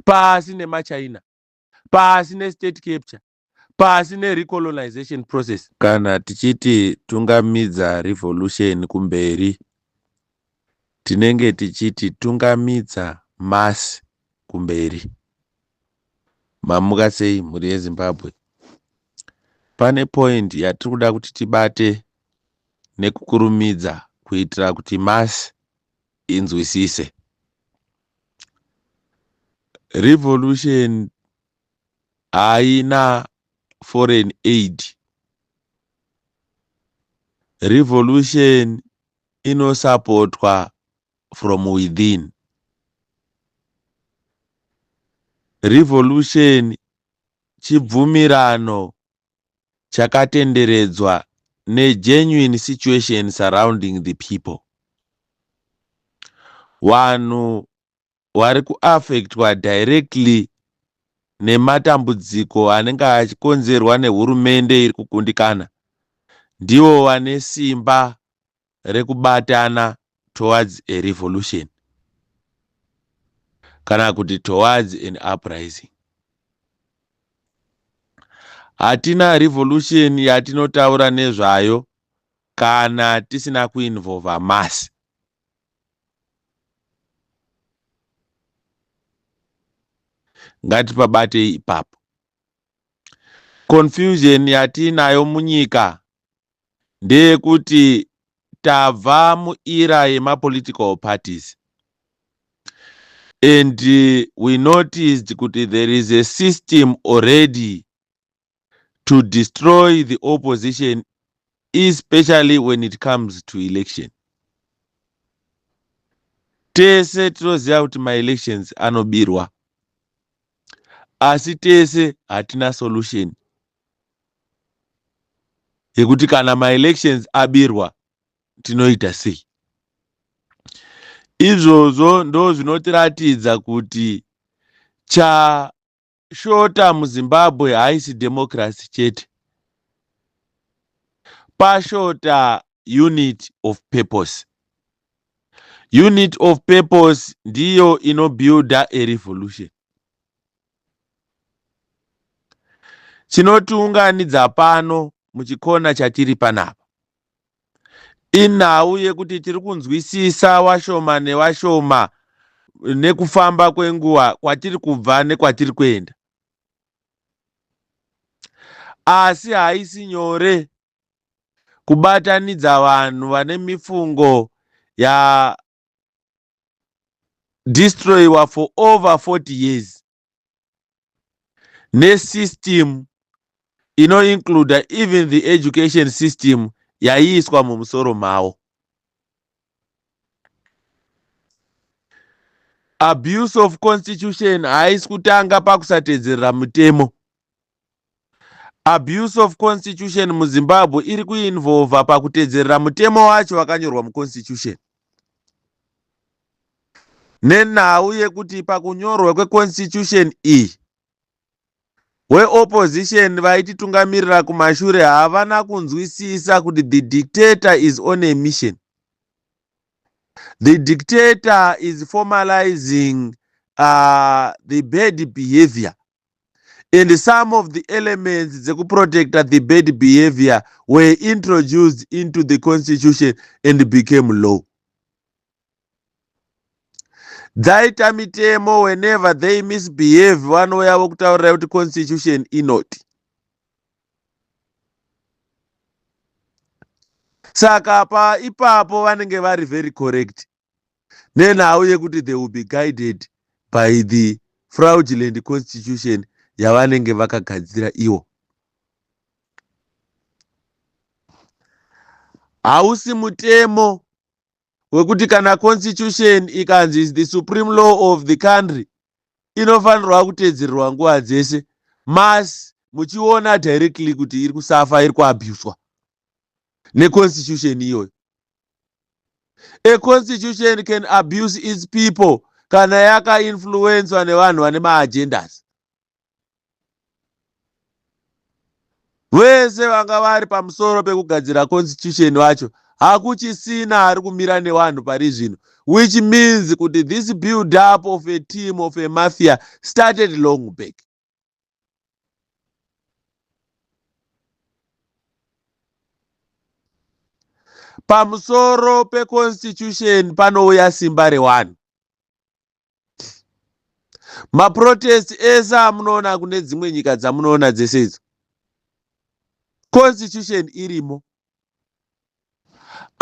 pasi nemaChina, pasi nestate capture, pasi nerecolonization process. Kana tichiti tungamidza revolution kumberi tinenge tichiti tungamidza mass kumberi. Mamuka sei mhuri yeZimbabwe? Pane point yatiri kuda kuti tibate nekukurumidza kuitira kuti mass inzwisise revolution haina foreign aid revolution inosapotwa from within revolution chibvumirano chakatenderedzwa ne genuine situation surrounding the people. Vanhu vari kuaffectwa directly nematambudziko anenge achikonzerwa nehurumende iri kukundikana ndivo vane simba rekubatana towards a revolution kana kuti towards an uprising hatina revolution yatinotaura nezvayo kana tisina kuinvolva masi ngatipabate ipapo confusion yatiinayo munyika ndeyekuti tabva muera yemapolitical parties and we noticed kuti there is a system already to destroy the opposition especially when it comes to election tese tinoziva kuti maelections anobirwa asi tese hatina solution yekuti kana maelections abirwa tinoita sei izvozvo ndo zvinotiratidza kuti chashota muzimbabwe haisi democracy chete pashota unit of purpose unit of purpose ndiyo inobuilda a revolution Chinotiunganidza pano muchikona chatiri panapa inhau yekuti tiri kunzwisisa washoma newashoma nekufamba kwenguva kwatiri kubva nekwatiri kuenda. Asi haisi nyore kubatanidza vanhu vane mifungo ya destroyiwa for over 40 years nesystem inoincluda even the education system yaiiswa mumusoro mavo abuse of constitution haisi kutanga pakusatedzerera mutemo Abuse of constitution muZimbabwe iri kuinvolva pakutedzerera mutemo wacho wakanyorwa muconstitution nenhau yekuti pakunyorwa kweconstitution iyi weopposition vaititungamirira kumashure havana kunzwisisa kuti the dictator is on a mission the dictator is formalizing uh, the bad behavior and some of the elements dzekuprotecta the bad behavior were introduced into the constitution and became law dzaita mitemo whenever they misbehave vanouya vokutaurira kuti constitution inoti saka pa ipapo vanenge vari very correct nenhau yekuti they will be guided by the fraudulent constitution yavanenge vakagadzira iwo hausi mutemo wekuti kana constitution ikanzi is the supreme law of the country inofanirwa kuteedzererwa nguva dzese mas muchiona directly kuti iri kusafa iri kuabuswa neconstitution iyoyo a constitution can abuse its people kana yakainfluenswa nevanhu vane maagendas vese vanga vari pamusoro pekugadzira constitution vacho hakuchisina ari kumira nevanhu pari zvino which means kuti this build up of a team of a mafia started long back pamusoro peconstitution panouya simba rewani maprotest ese amunoona kune dzimwe nyika dzamunoona dzese idzo constitution irimo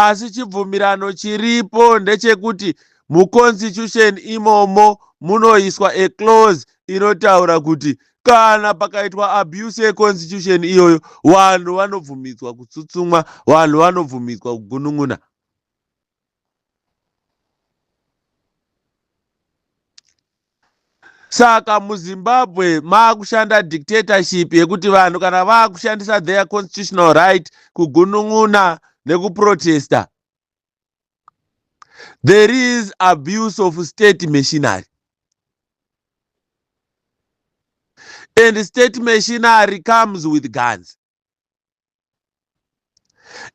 asi chibvumirano chiripo ndechekuti muconstitution imomo munoiswa a clause inotaura kuti kana pakaitwa abuse yeconstitution iyoyo vanhu vanobvumidzwa kutsutsumwa vanhu vanobvumidzwa kugunun'una saka muzimbabwe maakushanda dictatorship yekuti vanhu kana vaakushandisa their constitutional right kugunun'una nekuprotesta there is abuse of state machinery and state machinery comes with guns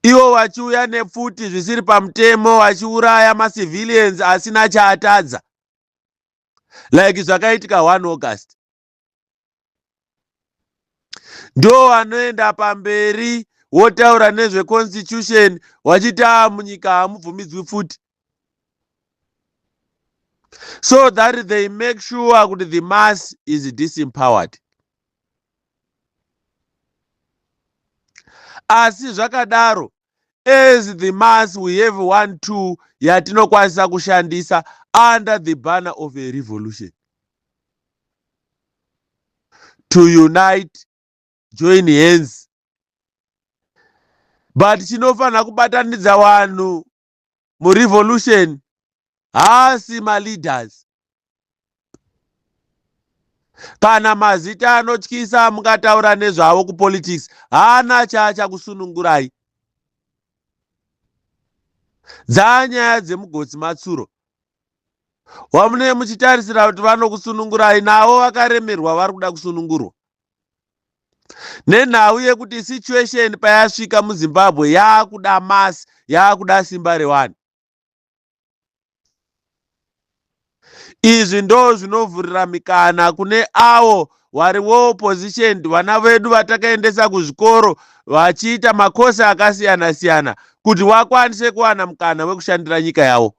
ivo vachiuya nepfuti zvisiri pamutemo vachiuraya macivilians asina chaatadza like zvakaitika 1 august ndo vanoenda pamberi wotaura nezveconstitution wachiti a ah, munyika hamubvumidzwi pfuti so that they make sure kuti the mass is disempowered asi zvakadaro as the mass we have one two yatinokwanisa kushandisa under the banner of a revolution to unite join hands but chinofanira kubatanidza vanhu murevolution haasi maleaders kana mazita anotyisa mukataura nezvavo kupolitics haana chaachakusunungurai dzaa nyaya dzemugotsi matsuro wamunee muchitarisira kuti vanokusunungurai navo vakaremerwa vari kuda kusunungurwa nenhau yekuti situation payasvika muzimbabwe yaakuda masi yaakuda simba rewani izvi ndo zvinovhurira mikana kune avo wari well positioned vana vedu vatakaendesa kuzvikoro vachiita makosi akasiyana siyana kuti wakwanise kuwana mukana wekushandira nyika yavo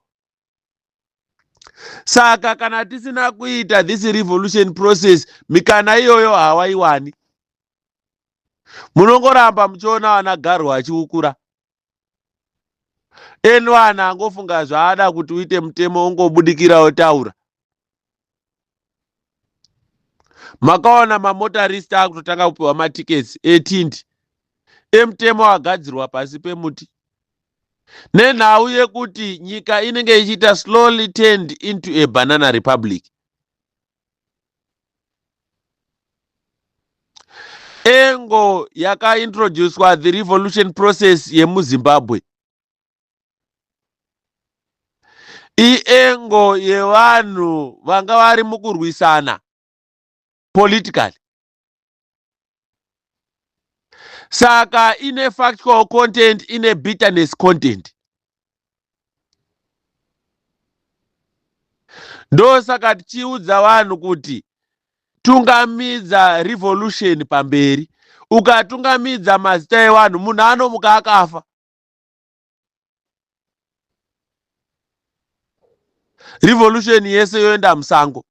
saka kana tisina kuita this revolution process mikana iyoyo hawaiwani munongoramba muchiona vana garwa achiukura enwana angofunga zvaada kuti uite mutemo ungobudikira otaura makawana mamotarist akutotanga kupiwa matickets etindi emutemo agadzirwa pasi pemuti nenhau yekuti nyika inenge ichiita slowly turned into a banana republic engo yakaintroducwa the revolution process yemuzimbabwe iengo yevanhu vanga vari mukurwisana politically saka ine factual content ine bitterness content ndosaka tichiudza vanhu kuti tungamidza revolution pamberi ukatungamidza mazita evanhu munhu anomuka akafa revolution yese yoenda musango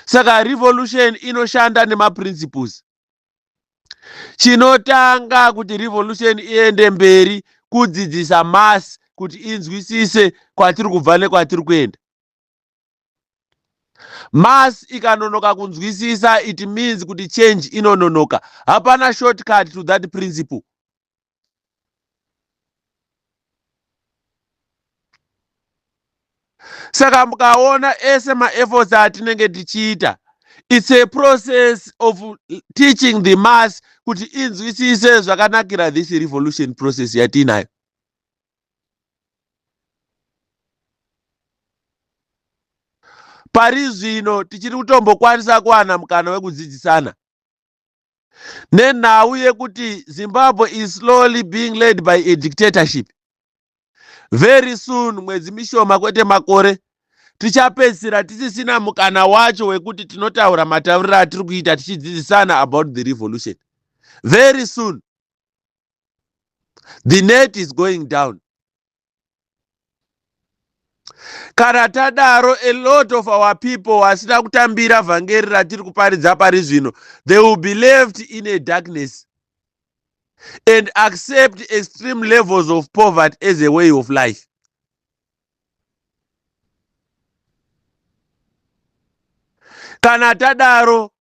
saka revolution inoshanda nemaprinciples chinotanga kuti revolution iende mberi kudzidzisa mass kuti inzwisise kwatiri kubva nekwatiri kuenda Mass ikanonoka kunzwisisa it means kuti change inononoka. Hapana shortcut to that principle. Saka mukaona ese maefforts atinenge tichiita it's a process of teaching the mass kuti inzwisise zvakanakira this revolution process yatiinayo. pari zvino tichiri kutombokwanisa kuwana mukana wekudzidzisana nenhau yekuti zimbabwe is slowly being led by a dictatorship very soon mwedzi mishoma kwete makore tichapedzisira tisisina mukana wacho wekuti tinotaura matauriro atiri kuita tichidzidzisana about the revolution very soon the net is going down kana tadaro a lot of our people vasina kutambira vhangeri ratiri kuparidza pari zvino they will be left in a darkness and accept extreme levels of poverty as a way of life kana tadaro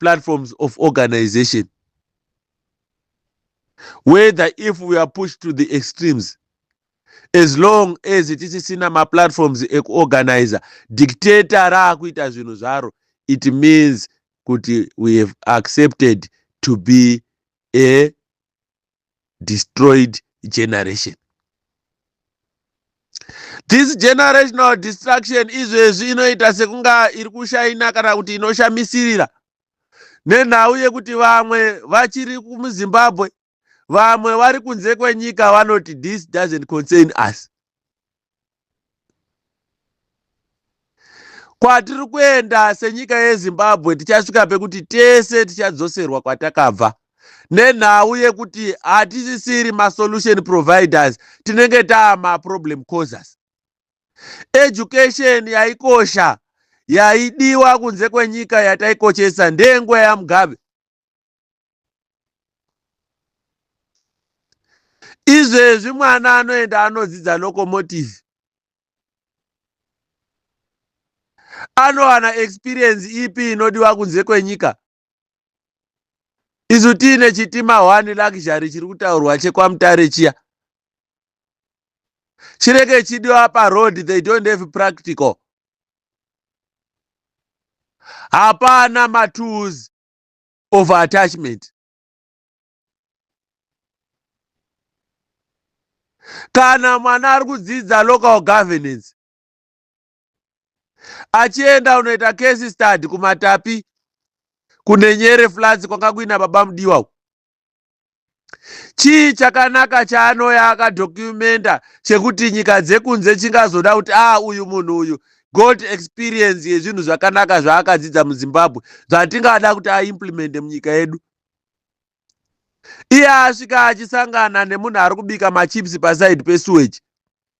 platforms of organization whether if we are pushed to the extremes as long as tisisina maplatforms ekuorganiza dictator raakuita zvinhu zvaro it means kuti we have accepted to be a destroyed generation this generational destruction izvezvi inoita sekunga iri kushaina kana kuti inoshamisirira nenhau yekuti vamwe vachiri kumuzimbabwe vamwe vari kunze kwenyika vanoti this doesn't concern us Kwatiri kuenda senyika yeZimbabwe tichasvika pekuti tese tichadzoserwa kwatakabva nenhau yekuti hatisisiri masolution providers tinenge taa maproblem causers. Education yaikosha yaidiwa kunze kwenyika yataikoshesa ndeyenguva yaMugabe. izvezvi mwana anoenda anodzidza locomotive anowana experience ipi inodiwa kunze kwenyika isu tiine chitima one luxury chiri kutaurwa chekwamutare chiya chirege chidiwa paroad they don't have practical hapana matools of attachment kana mwana ari kudzidza local governance achienda unoita case study kumatapi kunenyere flats kwanga kuina baba mudiwa chii chakanaka chaanoya akadocumenta chekuti nyika dzekunze chingazoda kuti a ah, uyu munhu uyu got experience yezvinhu zvakanaka zvaakadzidza muzimbabwe zvatingada kuti aimplemente munyika yedu iye asvika achisangana nemunhu ari kubika machips paside pesuweji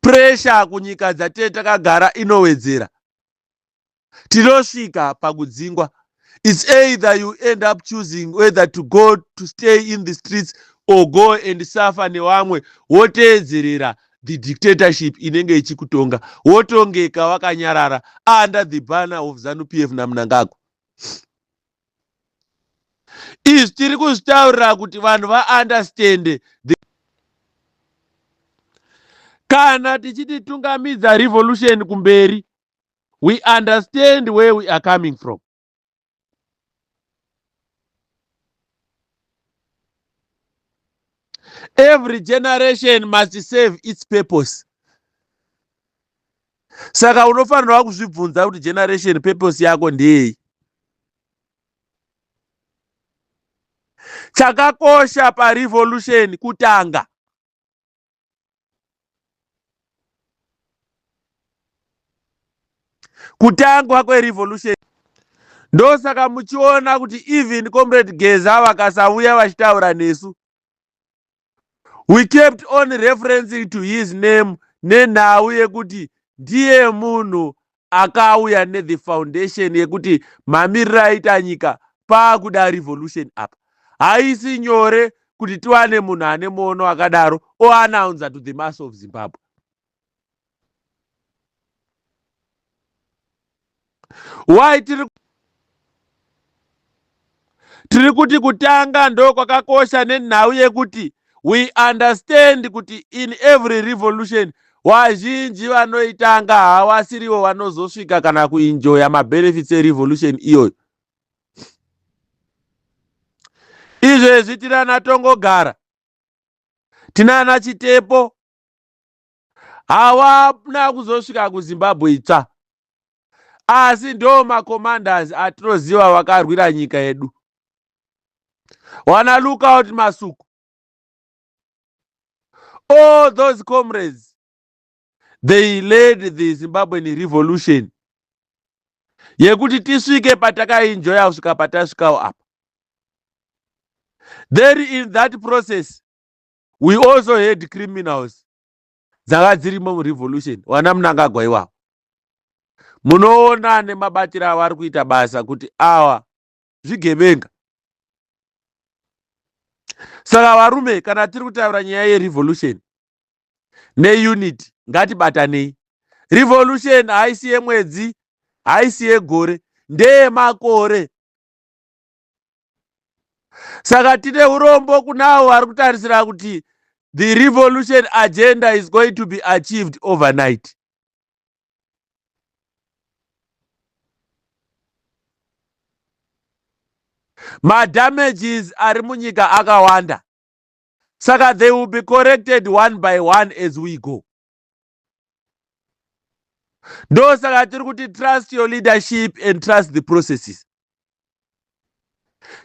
Puresha kunyika dzatee takagara inowedzera. Tinosvika pakudzingwa. It's either you end up choosing whether to go to stay in the streets or go and suffer newamwe woteedzerera the dictatorship inenge ichikutonga wotongeka wakanyarara under the banner of zanu pf namunangagwa izvi tiri kuzvitaurira kuti vanhu vaunderstande kana tichiti tungamidza revolution kumberi we understand where we are coming from every generation must serve its purpose saka unofanirwa kuzvibvunza kuti generation purpose yako ndeyei chakakosha parevolution kutanga kutangwa kwerevolution ndosaka muchiona kuti even comrade geza vakasauya vachitaura nesu we kept on referencing to his name nenhau yekuti ndiye munhu akauya nethe foundation yekuti mamiriro aita nyika paakuda revolution apa haisi nyore kuti tiwane munhu ane muono akadaro oanaunza to the mass of zimbabwe why tiri tiri kuti kutanga ndokwakakosha nenhau yekuti we understand kuti in every revolution wazhinji vanoitanga havasirivo vanozosvika kana kuinjoya mabenefits erevolution iyoyo izvezvi tinana tongogara tinana chitepo hawana kuzosvika kuzimbabwe itsva asi ndo macommanders atinoziva vakarwira nyika yedu wana lookout masuku all those comrades they led the zimbabwean revolution yekuti tisvike patakainjoya kusvika patasvikawo apa there in that process we also had criminals dzanga dzirimo murevolution wana munangagwa iwawo munoona nemabatiro avo ari kuita basa kuti awa zvigevenga saka varume kana tiri kutaura nyaya yerevolution neunity ngatibatanei revolution haisi yemwedzi haisi yegore ndeyemakore saka tine urombo kuna avo vari kutarisira kuti the revolution agenda is going to be achieved overnight madamages ari munyika akawanda saka they will be corrected one by one as we go ndosaka tiri kuti trust your leadership and trust the processes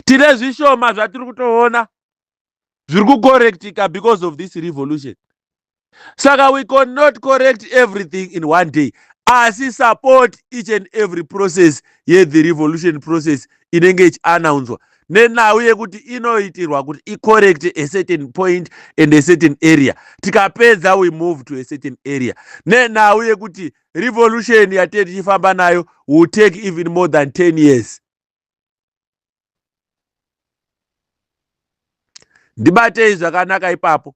tine zvishoma zvatiri kutoona zviri kucorrectika because of this revolution saka we con not correct everything in one day asi support each and every process yethe revolution process inenge ichianaunzwa nenhau yekuti inoitirwa kuti icorrect a certain point and a certain area tikapedza we move to a certain area nenhau yekuti revolution yatee tichifamba nayo will take even more than 10 years ndibatei zvakanaka ipapo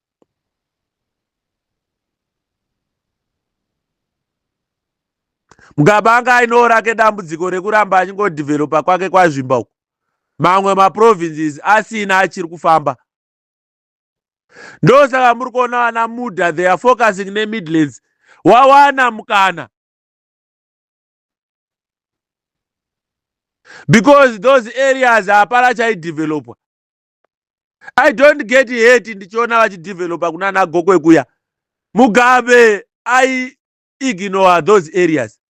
mukabanga ainewo rake dambudziko rekuramba achingodhivheropa kwake kwazvimba uku mamwe maprovinces asina achiri kufamba ndosaka muri kuona vana muda they are focusing nemidlands wawana mukana because those areas hapana chaidevelopwa i don't get hate ndichiona vachidevelopa kuna ana gokwe kuya mugabe i ignore those areas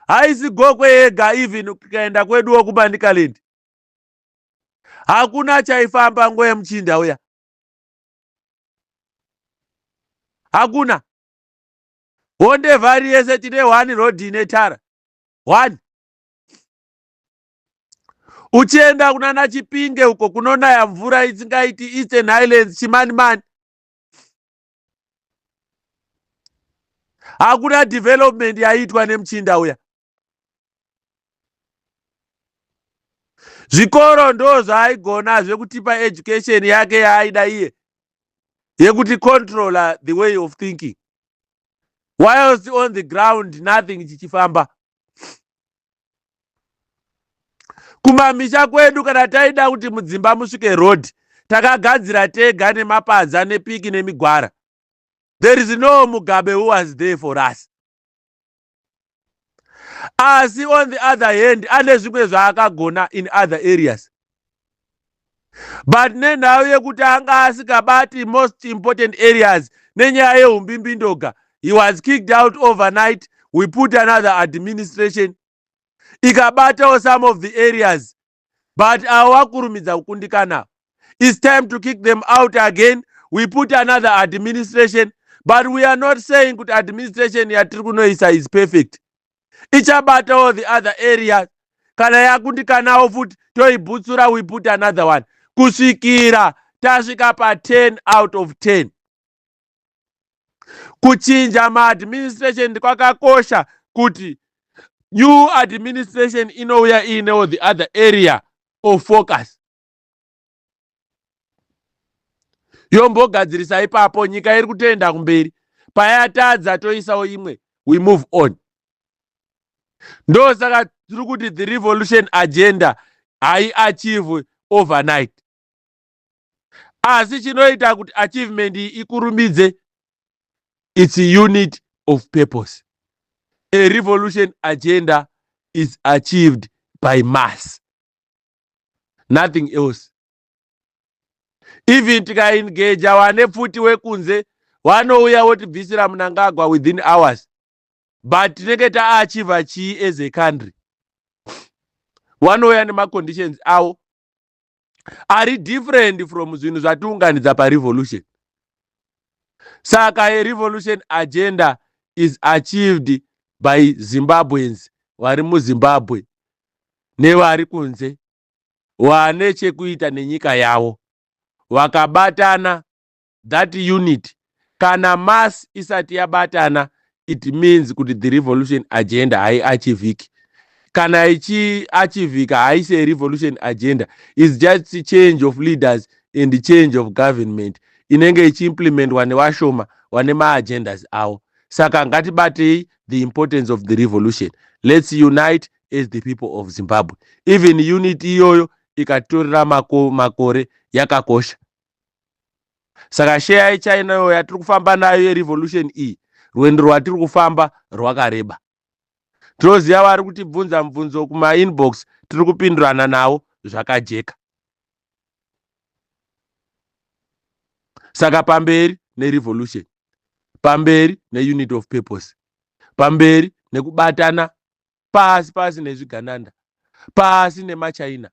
haisi gokwe yega even kukaenda kweduwo kumanicaland hakuna chaifamba ngo yemuchinda uya hakuna honde vhari yese tine one road ine tara one uchienda kunana chipinge uko kunonaya mvura isingaiti eastern highlands chimanimani hakuna development yaiitwa nemuchinda uya zvikoro ndo zvaaigona zvekutipa education yake yaaida iye yekuti controller the way of thinking whilst on the ground nothing chichifamba kumamisha kwedu kana taida kuti mudzimba musvike road takagadzira tega nemapadza nepiki nemigwara there is no mugabe who was there for us asi on the other hand ane zvimwe zvaakagona in other areas but nenhau yekuti anga asikabati most important areas nenyaya yehumbimbindoga he was kicked out overnight we put another administration ikabatawo some of the areas but avo vakurumidza kukundikana its time to kick them out again we put another administration but we are not saying kuti administration yatiri kunoisa is perfect ichabatawo the other areas kana yakundikanawo futi toibutsura we put another one kusvikira tasvika pa10 out of 10 kuchinja maadministration ndikwakakosha kuti new administration inouya iinewo the other area of focus yombogadzirisa ipapo nyika iri kutoenda kumberi payatadza toisawo imwe we move on ndosaka tiri kuti the revolution agenda haiachieve overnight asi chinoita kuti achievement iyi ikurumidze its unit of purpose a revolution agenda is achieved by mass nothing else even tikaengeja wane pfuti wekunze wanouya wotibvisira munangagwa within hours but tinenge taachiva chii as a country wanouya nemaconditions avo ari different from zvinhu zvatiunganidza parevolution saka yerevolution agenda is achieved by zimbabweans vari muzimbabwe nevari kunze vane chekuita nenyika yavo vakabatana that unit kana mass isati yabatana it means kuti the revolution agenda haiachivhiki kana ichiachivhika haisi arevolution agenda is just change of leaders and change of government inenge ichiimplementwa nevashoma vane maagendas avo saka ngatibatei the importance of the revolution let's unite as the people of zimbabwe even unit iyoyo ikatorera mako, makore yakakosha saka sheya yechina iyo yatiri kufamba nayo yerevolution iyi rwendo rwatiri kufamba rwakareba tinoziva vari kutibvunza mubvunzo kumainbox tiri kupindurana navo zvakajeka saka pamberi nerevolution pamberi neunit of purpose pamberi nekubatana pasi pasi nezvigananda pasi nemachina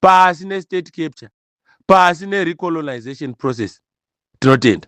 pasi nestate capture pasi nerecolonization process tinotenda